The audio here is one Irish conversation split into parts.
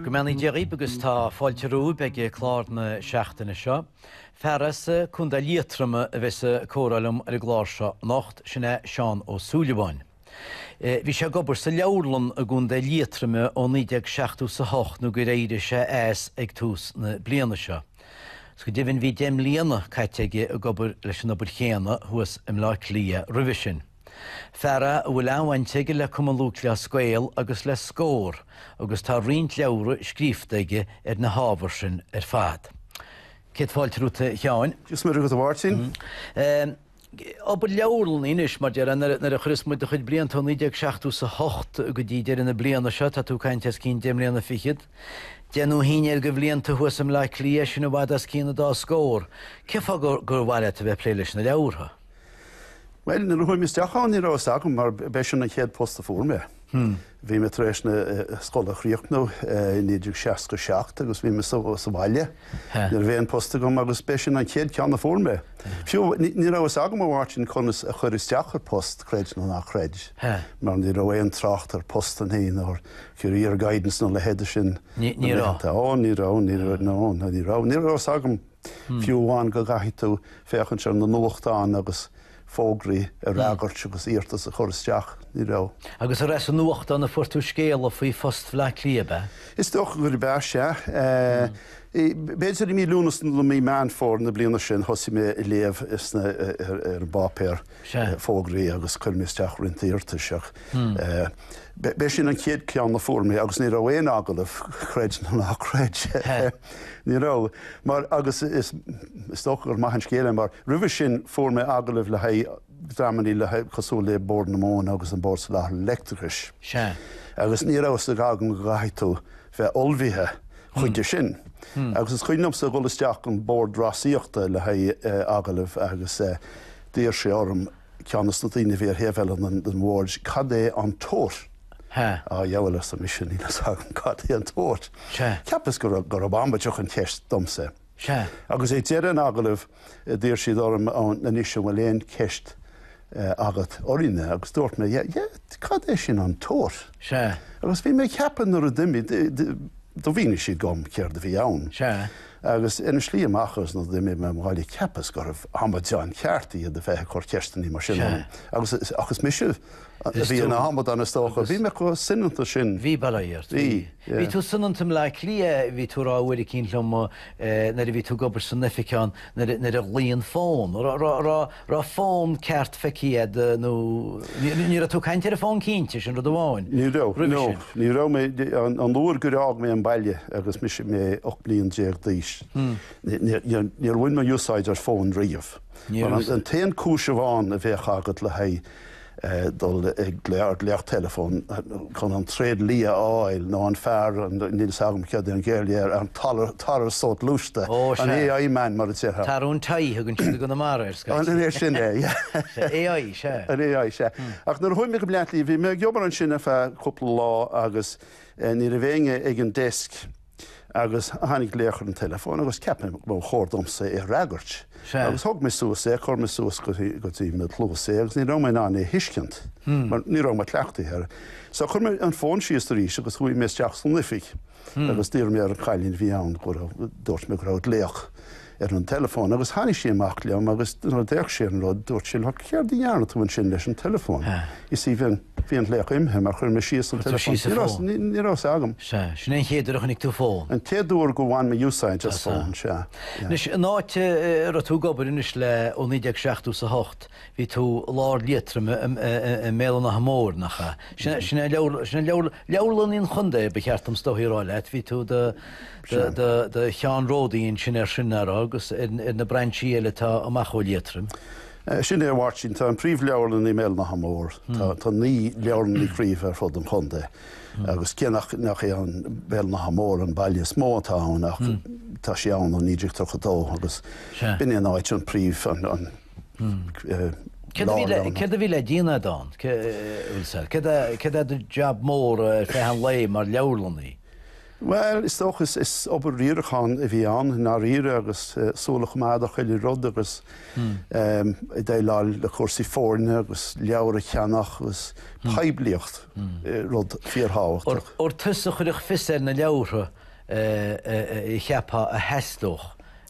Go mbeannaí Dia dhaoib agus tá fáilte romhaib ag clár na seachtaine seo. Fear as Contae Liatroma a bheidh sa comhrá liom ar an gclár seo anocht, sin é Seán Ó Súilleabháin. Bhí sé ag obair sa leabharlann i gContae Liatroma ó 1978 nó gur éirigh sé as ag tús na bliana seo. Is go deimhin bhí deich mbliana caite aige ag obair leis an obair chéanna thuas i mBleá Cliath roimhe sin. Fear a bhfuil an-bhaint aige le Cumann Lúthchleas Gael agus le Scór agus tá roinnt leabhra scríofa aige ar na hábhair sin ar fad. Céad fáilte romhat, a Sheáin. Go raibh maith agat, a Mháirtín. obair leabharlainne anois, mar déarfá, nuair a chuireas muid do chuid blianta ó 1978 go dtí deireadh na bliana seo, tá tú ag caint os cionn deich mbliana fichead, deich nó a haon déag de bhlianta thuas i mBleá Cliath, sin i bhfad os cionn an dá scór. Cén fáth gur, gur mhaith leat a bheith ag plé leis na leabhartha? Bhuel, nuair a chuaigh mé isteach ann ní raibh fhios agam, mar b'é sin an chéad phost a fuair mé. Bhí mé tar éis na scoile a chríochnú i 1967 agus bhí mé sa bhaile. Ní raibh aon phost agam agus b'é sin an chéad ceann a fuair mé. Fiú, ní raibh fhios agam a Mháirtín conas a chur isteach ar phost, creid nó nach creid, mar ní raibh aon trácht ar phostanna nó ar career guidance nó a leithéide sin na laethanta. Ó, ní raibh, ní raibh, no, no, ní raibh. Ní raibh fhios agam fiú amháin go gcaithfidh tú féachaint sna nuachtáin agus. fógraí a fhreagairt agus iarratas a chur isteach, ní raibh. Agus ar as an nuachtán a fuair tú scéala faoi phost Bhleá Cliath, ab ea? Is dócha gurb ea, sea. B'fhéidir i mí Lúnasa nó mí Meán Fómhair na bliana sin thosaigh mé ag léamh sna, ar an bpáipéar, fógraí agus chuir mé isteach roinnt iarratais ach. B'é sin an chéad ceann a fuair mé agus ní raibh aon agallamh, creid nó nach creid, ní raibh, mar agus is dócha gur maith an scéal é mar roimhe sin fuair mé agallaimh le haghaidh dreamannaí le haghaidh, cosúil le Bord na Móna agus an Bord Soláthair Leictreachais, agus ní raibh fhios agam go gcaithfidh tú bheith ullmhaithe chuige sin. Agus is cuimhin liomsa dhul isteach an Bord Rásaíochta le haghaidh agallaimh agus d'iarr sé orm, ceann de na daoine a bhí ar thaobh eile den bhord, cad é an tote Huh. A dhiabhail, arsa mise, níl fhios agam cad é an tóir. Sea. Cheapas go raibh, gurb amaideach an cheist domsa. Sea. Agus ag deireadh an agallaimh d'iarr siad orm, á, anois an bhfuil aon cheist agat orainne agus dúirt mé, yeah, yeah, cad é sin an tote? Sea. Agus bhí mé ag ceapadh nuair a d'imigh, do mhínigh siad dhom céard a bhí ann. Sea. Agus ina slí amach agus nuair a d'imigh mé abhaile cheapas gurbh amadáin chearta iad a bheith ag cur ceisteanna mar sin orm. Agus, ach is mise a bhí ina amadán is dócha. Bhí mé chomh soineanta sin. Bhí, bail ó Dhia ort. Bhí, yeah. Bhí tú soineanta i mBleá Cliath, bhí tú a rá uair eicínt liom nuair a bhí tú ag obair san oifig ann nuair a ghlaoigh an fón. raibh fón ceart feicthe agat nó ní raibh tú ag caint ar an bhfón cinnte, sin rud amháin. Ní raibh, no, ní raibh mé, an uair gur fhág mé an baile agus mise mé 18 bliain d'aois, níor bhain mé úsáid ar fón riamh. An t-aon cúis amháin a bheadh agat le haghaidh. dul ag glaoch teileafóin chun an tréidlia a fháil nó an fear, níl 's agam céard é an Ghaeilge ar an tarbh sa ghluaisteán, an AI man mar a déarfá. Tarbh an tie a thugann siad i gConamara air, scaití. An é sin é? Sea, AI, sea. An AI, sea. Ach nuair a chuaigh mé go Bleá Cliath, bhí mé ag obair ansin ar feadh cúpla lá agus ní raibh éinne ag an desk. Agus tháinig glaoch ar an teileafón agus cheap mé gur chóir domsa é a fhreagairt. Agus thóg mé suas é, chuir mé suas go dtí mo chluas é agus ní raibh mé in ann é a thuiscint mar ní raibh mé cleachtaithe air. So chuir mé an fón síos arís agus chuaigh mé isteach san oifig agus d'iarr mé ar an chailín a bhí ann go raibh, dúirt mé go raibh glaoch ar an teileafón agus tháinig sí amach liom agus nuair a d'fhéach sí ar an rud dúirt sí, Look, céard a dhearna tú ansin leis an teileafón? You see, bhí an glaoch imithe mar chuir mé síos an teileafón, ní raibh 's agam. Sea, sin é an chéad uair a chonaic tú fón? An chéad uair gur bhain mé úsáid as fón, sea. Anois, an áit a raibh tú ag obair anois le ó 1970 is a hocht, bhí tú i lár Liatroim, i mBéal an Átha Móir, nach ea? Sin é, sin é leabharlannaí an chontae, ba cheart dom is dóigh a rá leat, bhí tú i do, do cheannródaí ansin air sin, ar agus ar na brainsí eile atá amach ó Liatroim. Sin é, a Mháirtín, tá an príomhleabharlann i mBéal an Átha Móir, tá naoi leabharlannaí craobh ar fud an chontae agus cé nach, nach é an Béal an Átha Móir an baile is mó atá ann ach tá sé ann ó 1932 agus b'in é an áit, an príomh, an lárionad. Céard a bhí le déanamh a'd ann, céard é do jab mór ar feadh an lae mar leabharlannaí? Bhuel, is dócha, is obair riaracháin a bhí ann i ndáiríre agus súil a choimeád ar chuile rud agus ag déileáil le cúrsaí foirne agus leabhair a cheannach agus poiblíocht, rud fíorthábhachtach. Ar tusa a chuirfeadh fios ar na leabhartha a cheapfá a theastódh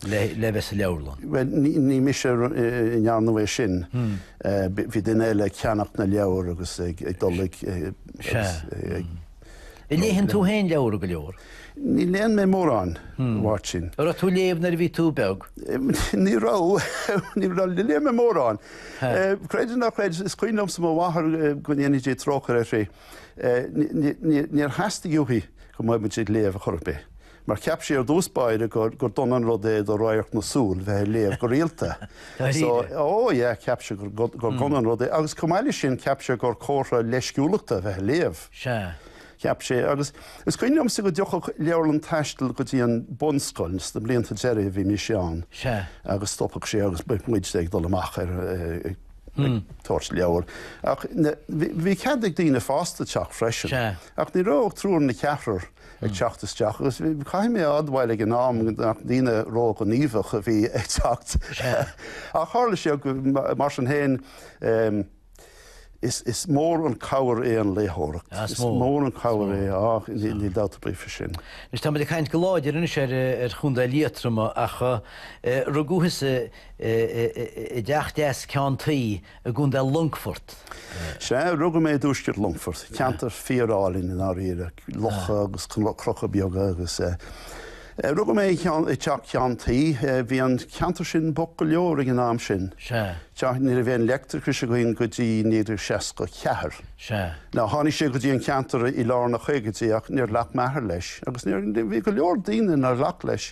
le bheith sa leabharlann? Bhuel, ní mise a ndéanadh é sin, bhí duine eile ag ceannach na leabhar agus ag dul ag. Sea. Léigheann tú féin leabhra go leor? Ní léann mé mórán, a Mháirtín. An raibh tú ag léamh nuair a bhí tú beag? Ní raibh. Ní léann mé mórán. Creid nó ná creid, is cuimhin liomsa mo mháthair go ndéanfaidh Dia trócaire uirthi, níor theastaigh uaithi go mbeadh muid ag léamh ar chor ar bith. mar cheap sí ar dtús báire gur, gur dona an rud é do radharc na súl bheith ar léamh go rialta. Dáiríre? So, oh yeah, cheap sí gur, gur dona an rud é agus chomh maith leis sin cheap sí gur comhartha leisciúlachta a bheith ar léamh. Sea. Cheap sí, agus is cuimhin liomsa go dtiocfadh leabharlann taistil go dtí an bunscoil sna blianta deiridh a bhí mise ann Sea. agus stopfadh sé agus bheadh muid ag dul amach ar, ag, ag tabhairt leabhar ach bhí, bhí cead ag daoine fásta teacht freisin Sea. ach ní raibh triúr ná ceathrar ag teacht isteach agus caithfidh mé a admháil ag an am nach daoine ró-ghníomhach a bhí ag teacht ach tharla sé go, mar sin féin, is mór an chabhair é an léitheoireacht, is mór an chabhair é, á, níl dabht ar bith faoi sin. Anois, táimid ag caint go láidir anois ar Chontae Liatroma ach rugadh thusa i dteach deas ceann tuí, i gContae Longfort. Sea, rugadh mé i dtuaisceart Longfort, ceantar fíorálainn i ndáiríre, locha agus cnoca beaga agus eh. rugadh mé i dteach ceann tuí, bhí an ceantar sin bocht go leor ag an am sin. Sea. Sea, ní raibh aon leictreachais againn go dtí 1964. Sea. No, tháinig sé go dtí an ceantar i lár na gcaogaidí ach níor ghlac m'athair leis agus bhí go leor daoine nár ghlac leis.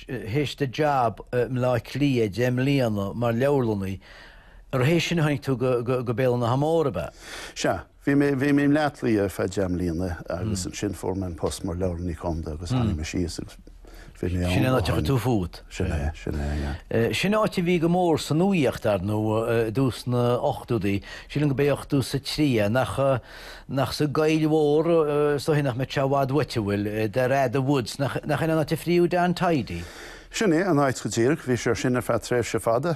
théis do jab i mBleá Cliath, deich mbliana mar leabharlannaí, agus théis sin tháinig tú go Béal an Átha Móir, ab ea? Sea. Bhí mé i mBleá Cliath ar feadh deich mbliana agus ansin fuair mé an post mar Leabharlannaí Contae agus tháinig mé síos agus bhí mé ann ó shin. Sin an áit a chuir tú fút? Sin é, sin é, yeah. Sin áit a bhí go mór sa nuaíocht, ar ndóigh, i dtús na 80idí, sílim go b'é 83 é, nach. Nach sa gcoill mhór, is dóigh nach mbeidh sé i bhfad uait, a bhfuil Derrada Woods, nach in an áit a fríú Don Tidey? Sin é, an áit go díreach, bhí sé ar sin ar feadh tréimhse fada,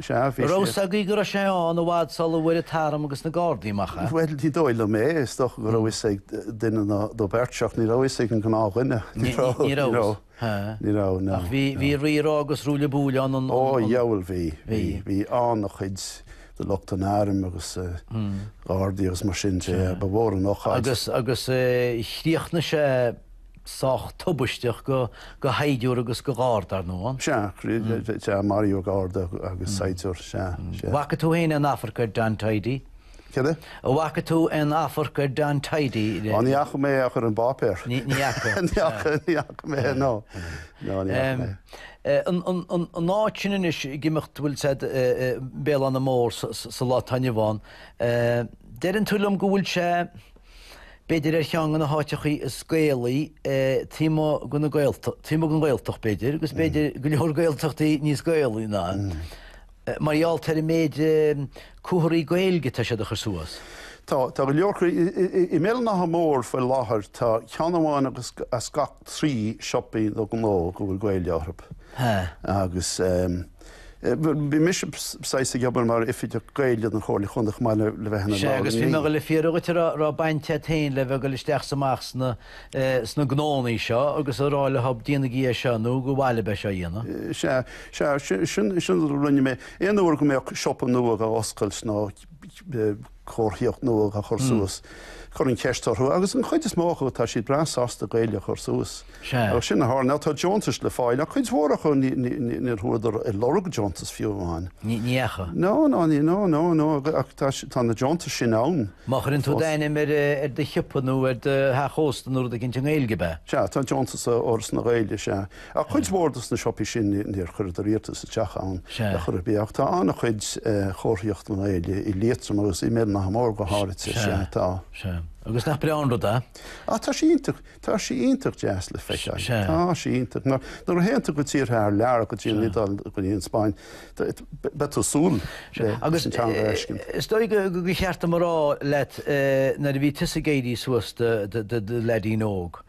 sea, bhí sé. Raibh 's agaibh go raibh sé ann i bhfad sul a bhfuair an t-arm agus na gardaí amach é? Bhuel, ní dóigh liom é, is dócha go raibh 'fhios ag duine nó beirt, ach ní raibh 'fhios ag an gnáthdhuine, ní raibh. Ha. Ní raibh, no. Ach bhí, bhí rí rá agus ruaille buaille ann an, an, an. Ó, dheabhail bhí, bhí, bhí an-chuid de lucht an airm agus gardaí agus mar sin de, ba mhór an ocáid. Agus, agus eh chríochnaigh sé sách tubaisteach go, go shaighdiúir agus go gharda, ar ndóigh an? Sea, sea, maraíodh garda agus saighdiúir, sea, sea. Bhfaca tú fhéin aon afarc ar Don Tidey? Céard é? An bhfaca tú aon afarc ar Don Tidey le. Ó, ní fhaca mé é ach ar an bpáipéar. Ní fhaca? Ní fhaca, ní fhaca mé é, no. No, ní fhaca mé é. An áit sin anois ag imeacht a bhfuil siad, Béal an Átha Móir sa lá atá inniu ann, deireann tú liom go bhfuil sé b'fhéidir ar cheann de na háiteachaí is Gaelaí taobh amuigh de na Gaeltacht, taobh amuigh den Ghaeltacht b'fhéidir, agus b'fhéidir go leor Gaeltachtaí níos Gaelaí ná. Mar gheall ar an méid comharthaí Gaeilge atá siad a chur suas. Tá, tá go leor acu. I mBéal an Átha Móir faoi láthair tá ceann amháin as gach trí siopaí nó gnó go bhfuil Gaeilge orthu. Agus bhí mise saghas ag obair mar Oifigeach Gaeilge don Chomhairle Chontae chomh maith le bheith ina. Sea, agus bhí mé a dhul le fiafraí dhuit an raibh baint agat féin le bheith ag dul isteach 's amach sna, sna gnóannaí seo agus a rá leob, Déanaigí é seo nó gur mhaith libh é seo a dhéanamh. Sea, sea, sin a rinne mé. Aon uair go mbeadh siopa nua dhá oscailt nó comharthaíocht nua dhá chur suas, chuirinn ceist orthu agus an chuid is mó acu tá siad breá sásta Gaeilge a chur suas. Agus sin a tharla. Tá deontais le fáil ach cuid mhór acu níor chuadar ar lorg deontas fiú amháin. Ní dheachaigh? No, no, no, no, no, ach tá na deontais sin ann. Má chuireann tú d'ainm ar do shiopa nó ar do theach ósta nó rud éicint i nGaeilge, ab ea? Sea, tá deontas ó Fhoras na Gaeilge, sea. Ach cuid mhór dos na siopaí sin níor chuireadar iarratas isteach ann ar chor ar bith. Ach tá an-chuid chomharthaíocht i nGaeilge i Liatroim agus i mBéal an Átha Móir go háirithe, sea, tá. Sea. Agus nach breá an rud é? Á, tá sé iontach. Tá sé iontach deas le feiceáil. Sea. Tá sé iontach. Nuair a théann tú go tíortha thar lear, go dtí an Iodáil, go dtí an Spáinn, beidh tú ag súil leis an teanga a fheiscint. Is dóigh gur cheart dom a rá leat nuair a bhí tusa ag éirí suas i do leaidín óg,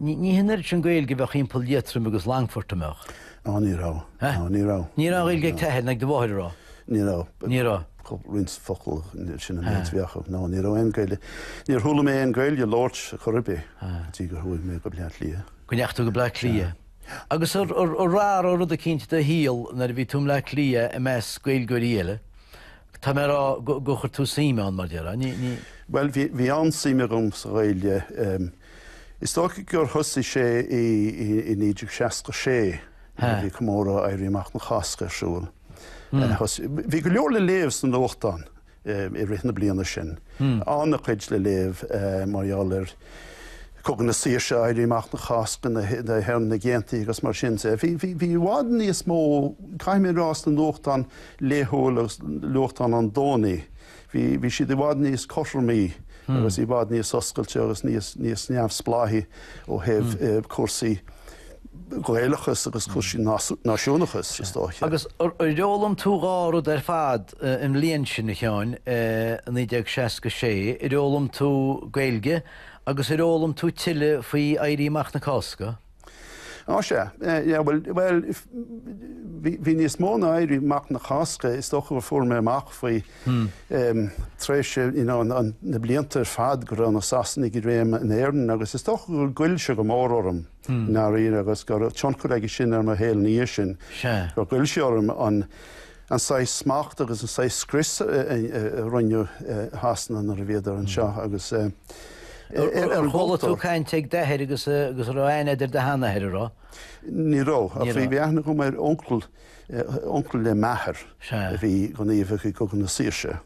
ní hé an oiread sin Gaeilge a bheadh thimpeall Liatroim agus Longfort, an mbeadh? Ó, ní raibh. Ní raibh. Ní raibh Gaeilge ag t'athair ná ag do mháthair an raibh? Ní raibh. Ní raibh. Chuir roinnt focal ansin sin an méid a bhí acu. No, ní raibh aon Gaeilge. Níor chuala mé aon Gaeilge á labhairt ar chor ar bith go dtí gur chuaigh mé go Bleá Cliath. Go ndeachaigh tú go Bleá Cliath. Agus an raibh rud eicínt i do shaol nuair a bhí tú i mBleá Cliath i measc Gaeilgeoirí eile, tá mé ag rá gur chuir tú suim ann, mar déarfá? Ní, ní. Bhuel, bhí, bhí an-suim agam sa Ghaeilge. Is dócha gur thosaigh sé i 1966 nuair a bhí comóradh Éirí Amach na Cásca ar siúl. Bhí go leor le léamh sna nuachtáin i rith na bliana sin, an-chuid le léamh mar gheall ar Chogadh na Saoirse, Éirí Amach na Cásca, na hÉireannaigh Aontaithe agus mar sin de. Bhí i bhfad níos mó, caithfidh mé a rá, sna nuachtáin laethúil agus nuachtáin an Domhnaigh. Bhí, bhí siad i bhfad níos cothromaí agus i bhfad níos oscailte agus níos, níos neamhspleáiche ó thaobh cúrsaí Gaelachas agus cúrsaí náisiúnachais, is dóiche. Agus ar fhoghlaim tú dhá rud ar fad an bhliain sin, a Sheáin, i 1966, ar fhoghlaim tú Gaeilge agus ar fhoghlaim tú tuilleadh faoi Éirí Amach na Cásca? Á, sea. Yeah, bhuel, bhuel, bhí, bhí níos mó ná Éirí Amach na Cásca, is dócha gur fuair mé amach faoi, em, tar éis, you know, an, an, na blianta ar fad go raibh na Sasanaigh i réim in Éirinn agus is dócha gur ghoill sé go mór orm, i ndáiríre, agus go raibh tionchar aige sin ar mo shaol ina dhiaidh sin. Sea. Gur ghoill sé orm an, an saghas smachta agus an saghas scrios a rinne Sasana nuair a bhíodar anseo ar an gcultúr. Chuala tú caint ag d'athair agus an raibh aithne agat ar do sheanathair, a raibh? Ní raibh, ach bhí aithne agam ar uncail, uncail le m'athair, a bhí gníomhach i gCogadh na Saoirse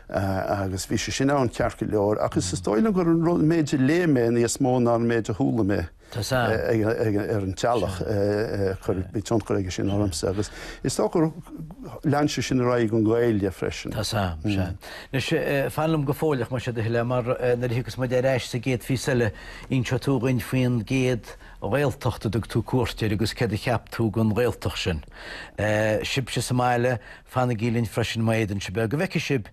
agus bhí sé sin ann ceart go leor ach is dóigh liom gur an méid a léigh mé níos mó ná an méid a chuala mé. Tá sa. ar an teallach go raibh tionchar aige sin ormsa agus is dócha gur lean sé sin ar aghaidh an Ghaeilge freisin. Tá sa. Anois, fan liom go fóilleach, más é do thoil é, mar nuair a thiocfas muid ar ais sa gcéad phíosa eile, inseoidh tú dhuinn faoin gcéad Ghaeltacht a dtug tú cuairt air agus céard a cheap tú den Ghaeltacht sin. Sibhse sa mbaile, fanaigí linn freisin, má fhéadann sibh é, go bhfeice sibh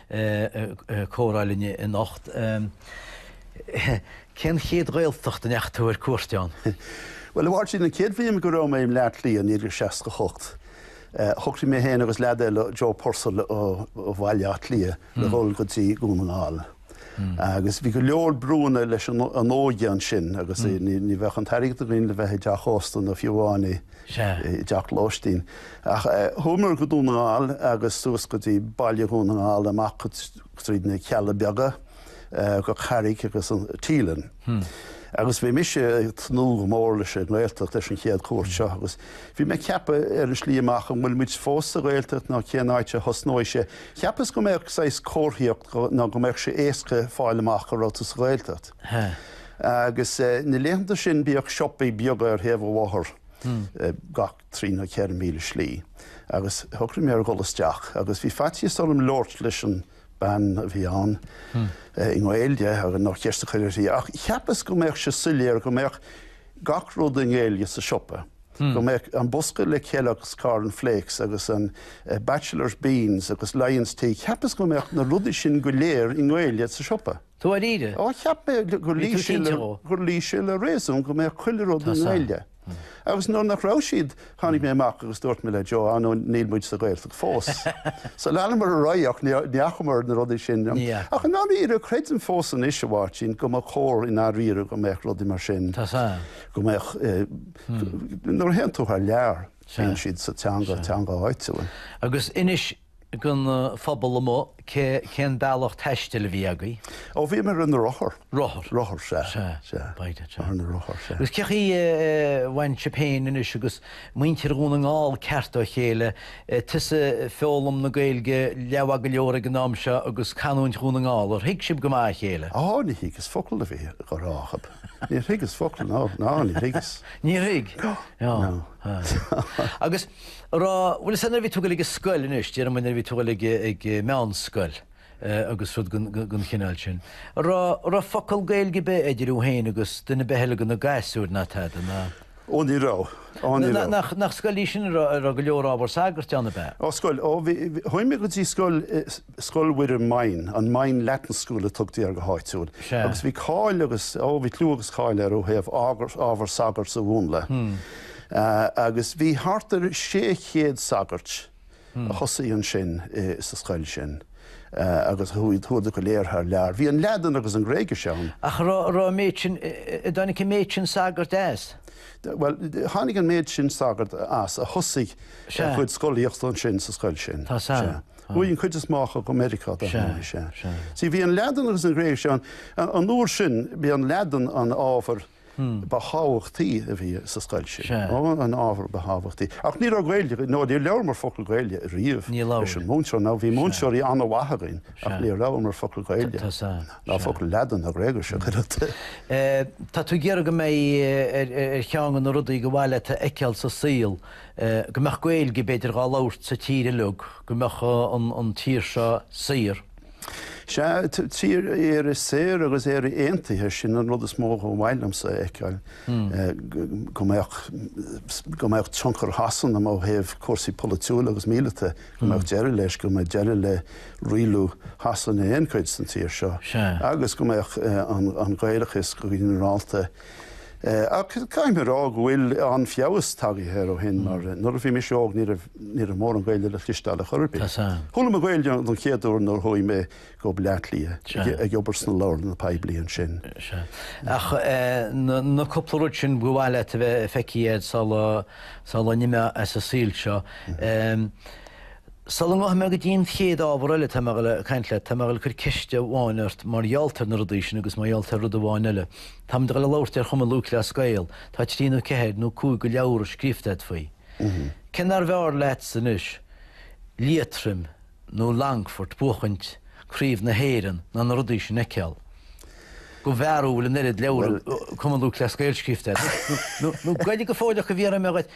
ag comhrá linn anocht. Cén chéad Ghaeltacht a ndeachaigh tú ar cuairt ann? Bhuel, a Mháirtín, an chéad bhliain go raibh mé i mBleá Cliath, i 1968, shocraigh mé féin agus leaid eile, Joe Purcell ó Bhaile Átha Cliath, le dhul go dtí Dún na nGall. Agus bhí go leor brúanna leis an óige ansin agus ní bheadh an t-airgead againn le bheith i dteach ósta nó fiú amháin i Sea. i dteach lóistín. Ach chuamar go Dún na nGall agus suas go dtí baile Dhún na nGall, amach tríd na Cealla Beaga, go Carraig agus Teileann. Agus bhí mise ag tnúth go mór leis an nGaeltacht, leis an chéad chuairt seo, agus bhí mé ag ceapadh ar an tslí amach, an bhfuil muid fós sa Ghaeltacht nó cén áit a thosnóidh sé? Cheapas go mbeadh saghas comharthaíocht nó go mbeadh sé éasca fáil amach go raibh tú sa Ghaeltacht. Agus na laethanta sin bhíodh siopaí beaga ar thaobh an bhóthair gach trí nó ceithre míle slí agus shocraigh mé ar dhul isteach agus bhí faitíos orm labhairt leis an bhean a bhí ann i nGaeilge agus nó ceist a chur uirthi ach cheapas go mbeadh sé soiléir go mbeadh gach rud i nGaeilge sa siopa, go mbeadh an bosca le Kellogg's Corn Flakes agus an Batchelors Beans agus Lyons Tea, cheapas go mbeadh na rudaí sin go léir i nGaeilge sa siopa. Dáiríre? Ó, cheap mé gur Bhí tú cinnte dhó? gur luigh sé le réasún go mbeadh chuile rud i nGaeilge. Agus nuair nach raibh siad, tháinig mé amach agus dúirt mé le Joe, ah no, níl muid sa Ghaeltacht fós. So leanamar ar aghaidh ach ní fhacamar na rudaí sin. Ní fhaca. Ach i ndáiríre, creidim fós anois, a Mháirtín, go mba chóir i ndáiríre go mbeadh rudaí mar sin, Tá sa. go mbeadh, nuair a théann tú thar lear, téann siad sa teanga, teanga áitiúil. Agus inis. don phobal amuigh cé, cén bealach taistil a bhí agaibh? Ó, bhí mé ar na rothair. Rothair? Rothair, sea. Sea, sea. B'fhéidir, sea. Ar na rothair, sea. Agus cé chaoi a bhain sib féin anois agus muintir Dhún na nGall ceart dá chéile, tusa ag foghlaim na Gaeilge leabhair go leor ag an am seo agus canúint Dhún na nGall, ar thuig sibh go maith a chéile? Á, ní thuigeas focal a bhí á rá acub. Níor thuigeas focal, ná, ná, níor thuigeas. Níor thuig? Á. Agus. Agus, bhfuil a fhios agat nuair a bhí tú ag goil ag scoil, anois déarfaidh muid nuair a bhí tú ag goil ag meánscoil agus rud den chineál sin, an raibh focal Gaeilge ar bith idir thú féin agus duine ar bith eile de na gasúir, ná tada, ná. Ó ní raibh, ó ní raibh. Nach scoil í sin a raibh go leor ábhar sagairt ann, ab ea? Ó scoil, ó bhí, chuaigh mé go dtí scoil i, Scoil Mhuire Moyne, an Moyne Latin School a tugtaí air go háitiúil, agus bhí cáil agus, ó, bhí clú agus cáil air ó thaobh ábhar sagairt a mhúnla. Agus bhí thart ar 600 sagairt a thosaigh ansin sa scoil sin agus chuadar go léir thar lear. Bhí an Laidin agus an Ghréigis ann. Ach raibh an méid sin, a dtáinig an méid sin sagart as? Bhuel, tháinig an méid sin sagart as a thosaigh a gcuid scolaíochta ansin sa scoil sin. Tá a fhios agam. Chuaigh an chuid is mó acu go Meiriceá, dar ndóigh. Sea. Sea. Bhí an Laidin agus an Ghréigis ann. An uair sin, b'í an Laidin an ábhar ba thábhachtaí a bhí sa scoil sin. Sea. An ábhar ba thábhachtaí. Ach ní raibh Gaeilge, nó níor labhramar focal Gaeilge riamh leis an múinteoir. Now, bhí múinteoirí an-mhaith againn, ach níor labhramar focal Gaeilge. Tá a fhios agam. Sea. Ná focal Laidin ná Gréigis, ach oiread. Tá tú ag iarraidh go mbeidh ar cheann de na rudaí gur mhaith leat a fheiceáil sa saol. go mbeadh Gaeilge, b'fhéidir, dhá labhairt sa tír uilig, go mbeadh an tír seo saor. Sea, tír, Éire saor agus Éire aontaithe, sin an rud is mó ba mhaith liomsa a fheiceáil, go mbeadh, go mbeadh tionchar Shasana ó thaobh cúrsaí polaitiúla agus míleata, go mbeadh deireadh leis, go mbeadh deireadh le rialú Shasana in aon chuid den tír seo agus go mbeadh an Gaelachas go ginearálta, Ach caithfidh mé a rá go bhfuil an-feabhas tagaithe air ó shin, mar nuair a bhí mise óg ní raibh ní raibh mórán Gaeilge le cloisteáil ar chor ar bith. Chuala mé Gaeilge don chéad uair nuair a chuaigh mé go Baile Átha Cliath, ag obair sna leabharlanna poiblí ansin. Ach na cúpla rud sin ba mhaith leat a bheith feicthe agat sula n-imeá as an saol seo. Sula rachaidh mé go dtí an chéad ábhar eile cainte leat, tá mé ag goil a chur ceist amháin ort mar gheall ar na rudaí sin agus mar gheall ar rud amháin eile. Táimid le labhairt ar Chumann Lúthchleas Gael, tá trí nó ceathair nó cúig de leabhair scríofa agat faoi. Cé nárbh fhearr leatsa anois Liatroim nó Longfort buachaint craobh na hÉireann ná na rudaí sin a fheiceáil? De bharr go bhfuil an oiread leabhar Cumann Lúthchleas Gael scríofa agat, nó Gaeilge go fóilleach a bhí orm a ghoid?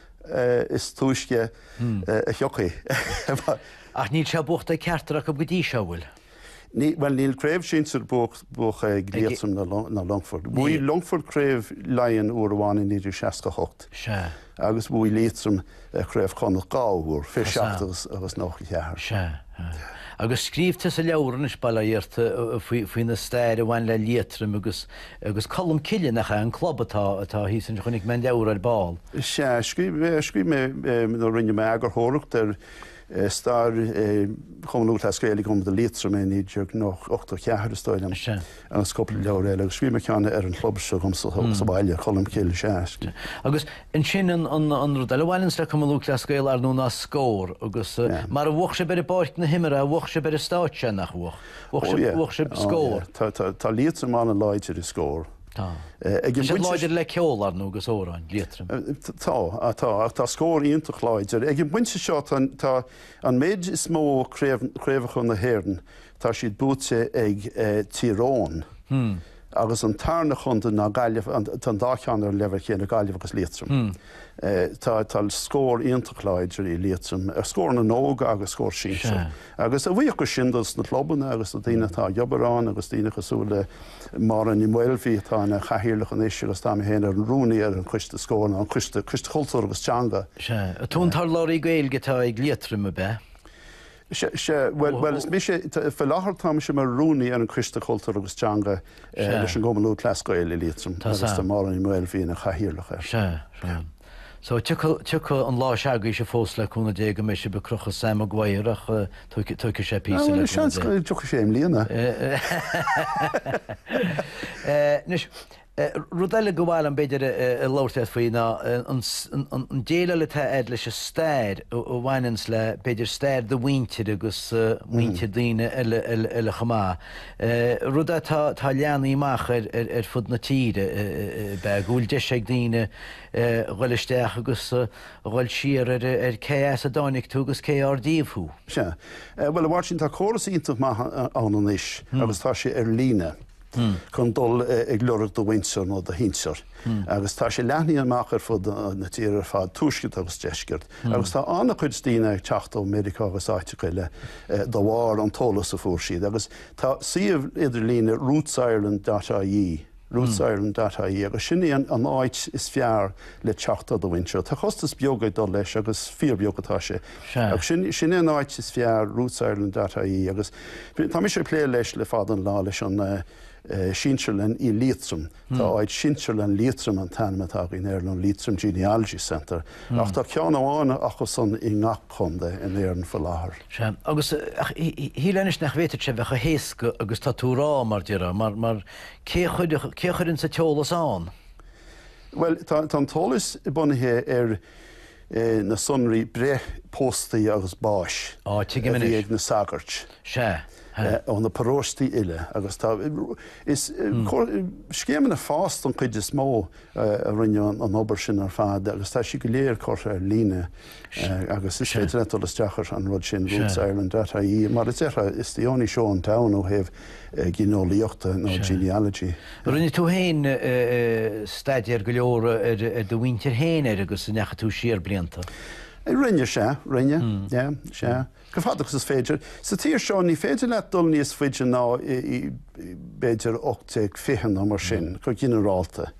is túisce a thiocfaidh. Ach níl sé buachta ag ceachtar acu go dtí seo, an bhfuil? Bhuel, níl craobh shinsir buaite ag Liatroim ná Longfort. Bhuaigh Longfort craobh Laighean uair amháin i 1968 agus bhuaigh Liatroim craobh Chonnacht dhá uair, fiche seacht agus nócha ceathair. Sea. Agus scríobh tusa leabhar anois, bail ó Dhia ort, faoin stair a bhain le Liatroim agus Agus Colm Cille, nach é an club atá, atá thíos ansin, chonaic mé an leabhar ar ball. Sea, scríobh mé, scríobh mé, nó rinne mé eagarthóireacht ar stair Chumann Lúthchleas Gael i gContae Liatroma i 1984, is dóigh liom, agus cúpla leabhar eile, agus scríobh mé ceann ar an chlub seo agam sa bhaile, Colm Cille, sea. Agus ansin an rud eile a bhaineanns le Cumann Lúthchleas Gael, ar ndóigh, ná Scór, agus mura mbuafadh sibh ar pháirc na himeartha bhuafadh sibh ar an stáitse, nach bhuafadh? Bhuaigh sibh Scór! Tá Liatroim an-láidir i Scór. Tá. Tá siad láidir le ceol, ar ndóigh, agus amhráin, Liatroim. Tá, tá. Ach tá Scór iontach láidir. Ag an bpointe seo tá an méid is mó craobhacha na hÉireann, tá siad buaite ag Tír Eoghain agus an tarna contae ná Gaillimh, tá an dá cheann ar an leibhéal chéanna, Gaillimh agus Liatroim. Tá Scór iontach láidir i Liatroim, Scór na nÓg agus Scór Sinsear. Agus a bhuíochas sin dos na clubanna agus dos na daoine atá ag obair ann agus daoine cosúil le Máire Ní Mhaolmhí atá ina cathaoirleach anois agus tá mé féin mar rúnaí ar an choiste Scór, nó an coiste, coiste cultúr agus teanga. Sea, an tú an t-urlabhraí Gaeilge atá ag Liatroim ab ea? Sea, bhuel, bhuel is mise, faoi láthair tá mise mar rúnaí ar an choiste cultúr agus teanga leis an gCumann Lúthchleas Gael i Liatroim agus tá Máire Ní Mhaolmhí ina cathaoirleach air. Sea, sea. So, tiocfaidh an lá s'agaibhse fós le cúnamh Dé go mbeidh sibh ag crochadh Sam Maguire ach tógfaidh sé píosa le cúnamh Dé. Bhuel, seans go dtiocfaidh sé i mbliana. Anois, rud eile go mb'áil liom b'fhéidir a labhairt leat faoi ná an déileáil atá a'd leis an stair a bhaineanns le b'fhéidir stair do mhuintir agus muintir daoine eile chomh maith. Rud atá leathnaithe amach ar fud na tíre, b'fhéidir, go bhfuil deis ag daoine, dhul isteach agus dhul siar ar cé as a dtáinig tú agus cé ar díobh thú. Sea. Bhuel, a Mháirtín, tá córas iontach maith ann anois agus tá sé ar líne chun dul ag lorg do mhuintir nó do shinsear agus tá sé leathnaithe amach ar fud na tíre ar fad, tuaisceart agus deisceart, agus tá an-chuid daoine ag teacht ó Mheiriceá agus áiteacha eile de bharr an t-eolas a fuair siad. Agus tá suíomh idirlíne, rootsireland.ie, Roots Ireland dot ie agus sin í an áit is fearr le teacht ar do mhuintir anseo. Tá costas beag ag dul leis agus fíor bheag atá sé. Agus sin, sin é an áit is fearr, Roots Ireland dot ie agus tá mise ag plé leis le fada an lá leis an sinsearlann i Liatroim. Tá áit Sinsearlann Liatroim an t-ainm atá againn air nó Leitrim Genealogy Centre ach tá ceann amháin acu san i ngach contae in Éirinn faoi láthair. Sea, agus, ach shíl mé anois nach bhféadfadh sé bheith chomh héasca agus tá tú a rá, mar déarfá, mar, mar, Cé a chuireann an t-eolas ann? Bhuel, tá an t-eolas bunaithe ar na sonraí breith, pósta agus báis a bhí ag na sagairt ó na paróistí uile agus is scéimeanna FÁS den chuid is mó a rinne an obair sin ar fad agus tá siad go léir curtha ar líne. agus is féidir leat dul isteach ar an rud sin, Roots Ireland dot ie, mar a déarfá, it's the only show in town ó thaobh gineolaíochta nó genealogy. Rinne tú féin staidéar go leor ar do mhuintir féin ar agus an ndeachaigh tú siar blianta? Rinne, sea, rinne, yeah, sea. Go fada agus is féidir. Sa tír seo ní féidir leat dul níos faide ná, b'fhéidir, 1820 nó mar sin, go ginearálta.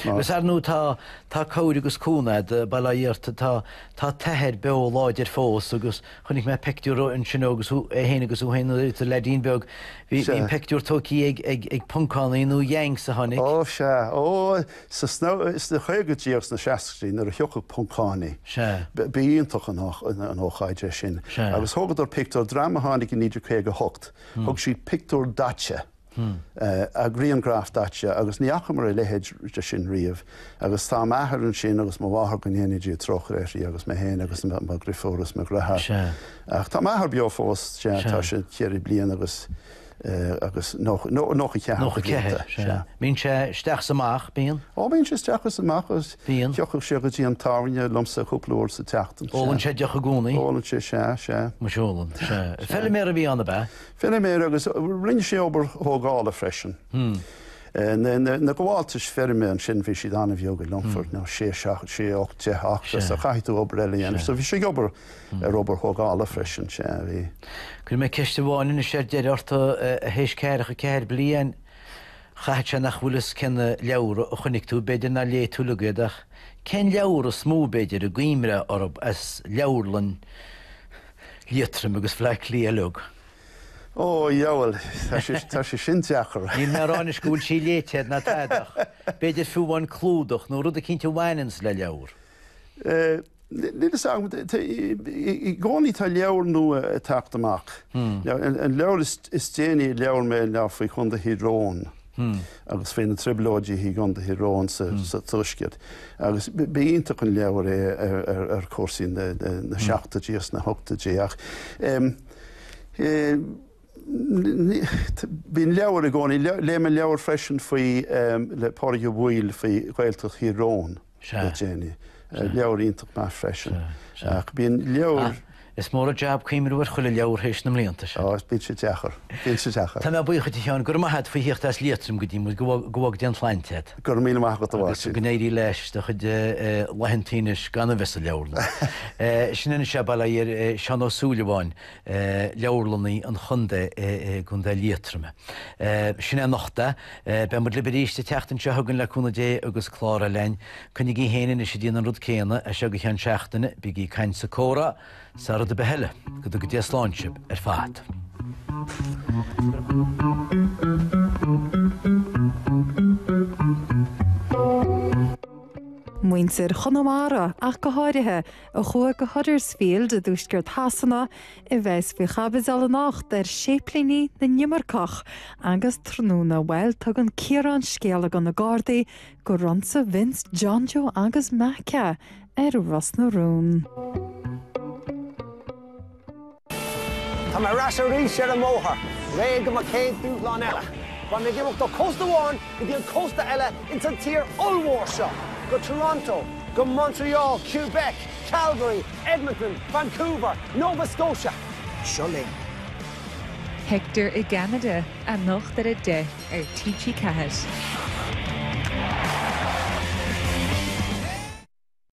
Agus ar ndóigh tá, tá cabhair agus cúnamh Dé, bail ó Dhia ort, tá, tá t'athair beo láidir fós agus chonaic mé pictiúr ansin agus é féin agus thú féin i do leaidín beag, bhí, bhí an pictiúr tógtha ag, ag, ag, Poncánaigh nó Yanks a tháinig. Ó sea, ó! Sna caogaidí agus na seascaidí nuair a thiocfadh Poncánaigh. Ba iontach an ócáid é sin. Agus thógadar pictiúr, dream a tháinig i 1958, thug siad pictiúr daite, grianghraf daite agus ní fhacamar a leithéid de sin riamh. Agus tá m'athair ansin agus mo mháthair, go ndéana Dia trócaire uirthi, agus mé féin agus mo dhriofúr agus mo dhreatháir. Ach tá m'athair beo fós, sea, tá sé cheithre bliana agus. agus nócha cheathair de bhlianta. Nócha ceathair, sea. Bíonn sé isteach is amach, bíonn? Ó, bíonn sé isteach is amach agus thiocfadh sé go dtí an tábhairne liomsa cúpla uair sa tseachtain, sea. Ólann sé deoch i gcónaí? Ólann sé, sea, sea. Muis ólann, sea. Feiliméar a bhí ann, ab ea? Feiliméar agus rinne sé obair thógála freisin. Na gabháltais feirme ansin bhí siad an-bheag i Longfort, ná sé, ocht, deich acra, so chaithfeadh tú obair eile a dhéanamh, so bhí sé ag obair. ar obair thógála freisin, sea, bhí. Cuirfidh mé ceist amháin anois ar deireadh ort, a théis ceathracha ceathair bliain. Caithfidh sé nach bhfuil fhios cén leabhar a chonaic tú, b'fhéidir nár léigh tú uilig iad, ach cén leabhar is mó, b'fhéidir, a gcuimhneofá orthub as leabharlann Liatroim agus Bhleá Cliath uilig? Ó, dheabhail, tá sé sin deacair. Níl mé ag rá anois go bhfuil sí léite ná tada ach b'fhéidir fiú amháin clúdach nó rud eicínt a bhaineanns le leabhar. Níl a fhios agam, i gcónaí tá leabhar nua ag teacht amach. An leabhar is déanaí a léigh mé ná faoi Chontae Thír Eoghain agus faoi na Trioblóidí i gContae Thír Eoghain sa Tuaisceart agus ba iontach an leabhar é ar chúrsaí na seachtóidí agus na hochtóidí ach bíonn leabhar i gcónaí. Léigh mé leabhar freisin faoi, le Pádraig Ó Baoill, faoi Ghaeltacht Thír Eoghain. Sea. le déanaí. Leabhar iontach maith freisin. Sea, sea. Ach bíonn leabhair. Is mór an jab cuimhniú ar chuile leabhar théis na mblianta sin. Ó, bíonn sé deacair. Bíonn sé deacair. Tá mé buíoch de Sheán. Go raibh maith a't faoi theacht as Liatroim go dtí muid. Go dtuga Dia an tsláinte dhuit. Go raibh míle maith agat, a Mháirtín. Agus go n-éirí leis do chuid laethanta anois gan a bheith sa leabharlann. Sin anois é, bail ar Sheán Ó Súilleabháin, Leabharlannaí an Chontae i gContae Liatroma. Sin é anocht é. Beidh muid libh arís an tseachtain seo chugainn le cúnamh Dé agus clár eile a'inn. Coinnigí fhéin anois a' déanamh an rud céanna as seo go ceann seachtaine, bígí ag caint 's ag comhrá 's a' rud a' bith eile. Go dtuga Dia slán sibh ar fad. Muintir Chonamara, ach go háirithe, a chuaigh go Huddersfield i dtuaisceart Shasana A bheas faoi chaibidil anocht ar Séiplínigh na nImirceach agus tráthnóna, bhuel, tugann Ciarán scéala go na Gardaí gur ionsaigh Vince, John Joe agus Mack é ar Ros na Rún. Tá mé ar ais arís ar an mbóthar, réidh do mo chéad dúshlán eile. Beidh mé ag imeacht ó chósta amháin go dtí an cósta eile ins an tír ollmhór seo, go Toronto, go Montreal, Quebec, Calgary, Edmonton, Vancouver, Nova Scotia. Seo linn. Hector i gCeanada, anocht ar a 10 ar TG4.